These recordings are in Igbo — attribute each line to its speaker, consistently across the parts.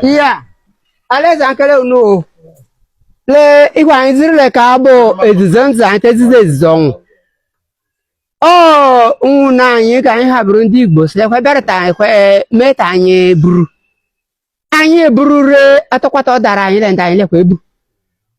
Speaker 1: ihe a alaeze nkele unu o lee iphe anyị zirile ka abụ ezizo nzọ anyị tezizo ezizo ọnwụ ọ nwụna anyị ka anyị habụrụ ndị igbo sile ephe bịarịta anyị kwe mee ka anyị buru anyị eburu re atọkwata ọ dara anyị lenda anyị lekwa ebu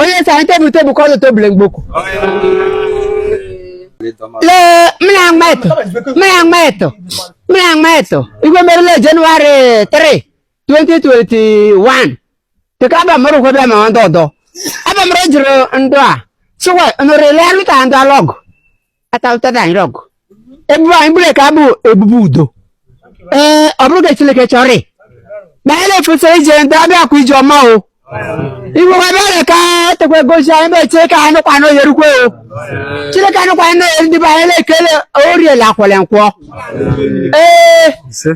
Speaker 1: onye nsọ anyị tebụl tebụl ka ọ dụta obule mgboko lee mmiri agba eto mmiri agba eto mmiri agba eto iphe merụ la jenụwarị 3 2021 teka aba mmadụ ụgwọ bịa ma ndị ọdọ aba mmadụ jụrụ ndụ a chịwa nụrụ ile alụta ndị alọgụ atalụtara anyị ọgụ ebubo anyị bụrụ ka abụ ebubo udo ee ọ bụrụ ka Chileke chọrị na anyị na-efesara ije ndị abịa akwa ije ọma o igwe nwa bịara ka tekwa gosi anyị bụ eche ka anyị nụkwa na oyerukwe o Chineke anụkwa anyị na-eyeri ndị be anyị na-ekele oriela akwele nkwọ ee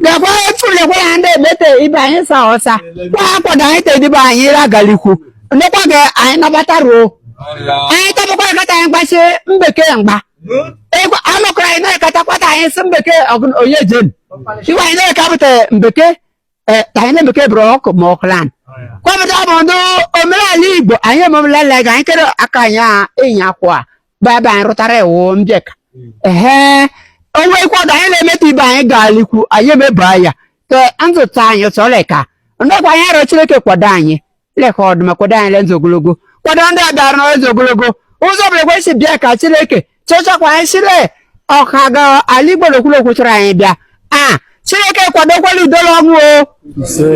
Speaker 1: gakwa efurekwa ya ndị ebete ibe anyị sa ọsa kwa akwado anyị tedibe anyị ragalikwu nekwa gị anyị nabata ruo anyị tapụkwa nkata anyị gbasi mbekee mgba egwu anọkọrọ anyị na-ekata kwata anyị si mbekee ọgụ- onye jen iwe anyị na-ekapụta mbekee eh, ka anyị na-emekee bụrụ ọkụ ma ọkụlan kwapụta bụ ndị omenala igbo anyị ememela ga anyị kere aka anyị a enyi akwụ a bụ ebe anyị rụtara iwu mbịaka ehe onwe ikwado anyị na-emeta ibe anyị ga-alikwu anyị emeba ya ka nzụta anyị sọrọ ka ndekwa anyị arịọ Chileke kwado anyị leka ọdụma kwado anyị le ndzụ ogologo kwado ndị a bịara nọ le ndzụ ogologo ụzọ bụ ekwesị bịa ka Chileke chọchakwa anyị sile ọka ga ala igbo n'okwulokwu chọrọ anyị bịa a Chileke kwadokwala udolo ọnwụ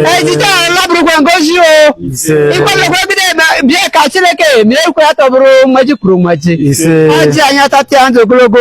Speaker 1: o ejije ahụ labụrụkwa ngozi o ịkwadokwa ebido eme bịa ka Chileke mee ekwe ya tọbụrụ mmaji kwuru mmaji ọjị anyị atatịa ndụ ogologo